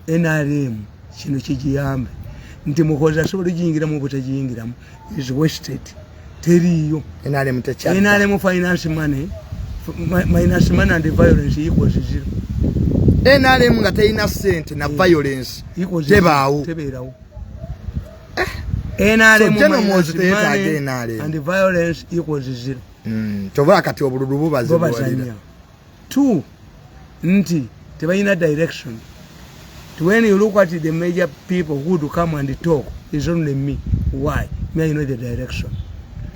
nrm kino kigiyambe nti muhozi asobola ogiyingiramu obutagiyingiramu is wasted teriiyo nrm finance money minus money and violence equals zero nrm nga terina sente na violence tebaawo nrm and violence equals zero hmm, kyova kati obululu bubazibwalira two nti tebalina direction when you look at the major people who do come and talk is only me why me i know the direction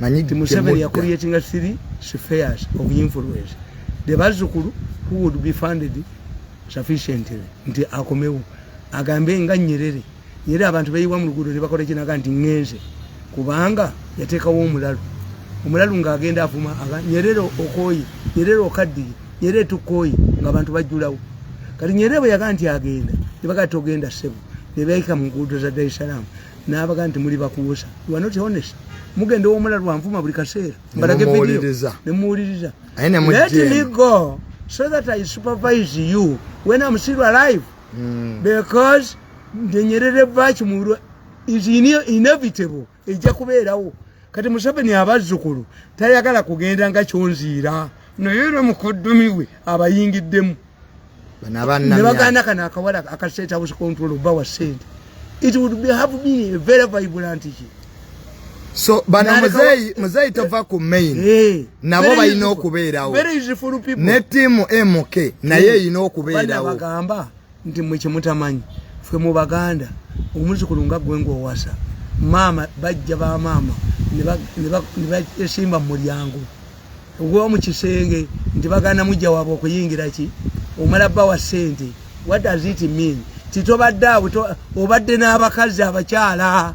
nti museveni yakuliyetinga three spheres of influence the bazukulu who would be funded sufficiently nti akomewo agambe nga nyerere era abantu beyiwa mu luguudo ne bakola ekinaga nti ŋŋenze kubanga yateekawo omulalu omulalu ng'agenda avuma nyerere okooye nyerere okaddiye nyerere tukooye ng'abantu bajjulawo kati nyerere bwe yaga nti agenda ne baga togenda ssebo ne beeyika mu nguudo za dar es salaam n'abaga nti muli bakuwusa wanoti honest mugenda ow'omulalu anvuma buli kaseera mbalage vidiyo ne muwuliriza let me go so that i supervise you when am still alive mm. because ndenyerere vaki mulwa is inevitable ejja kubeerawo kati museveni abazzukulu tayagala kugenda nga kyonziira naye no mukodomi we abayingiddemu nebaganda kano akawala akasetabusikontolo bawa sente it would be have been a very vibrant ki so bano muzeyi muzeyi tova ku main eh, nabo balina okubeerawo ne tiimu mk naye eh, erina okubeerawobagamba nti mwe kyemutamanyi ffe mu baganda omuzukulu nga gwe ngaowasa maama bajja ba maama nebasimba mu mulyango ogwa mu kisenge nti baganda mujja waabwe okuyingira ki omala bba wa ssente what does it mean titobadde awo obadde n'abakazi abakyala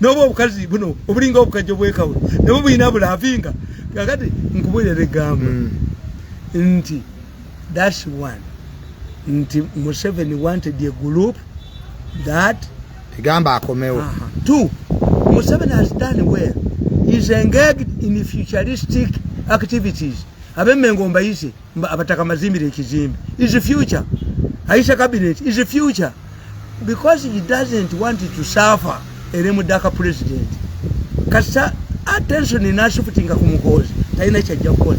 noba obukazi buno obulinga obukajjo bwekawe nabwo bulina bulavinga kakati nkubulira egambo mm. nti thats one nti museveni wanted a group that egamba akomewo two museveni has done well is engaged in futuristic activities abemengo mbayise abataka mazimbire ekizimbe is future aisha cabinet is future because he doesn't want to suffer ere mudaka president kasa attention inashifutinga kumukozi taina chajja kukola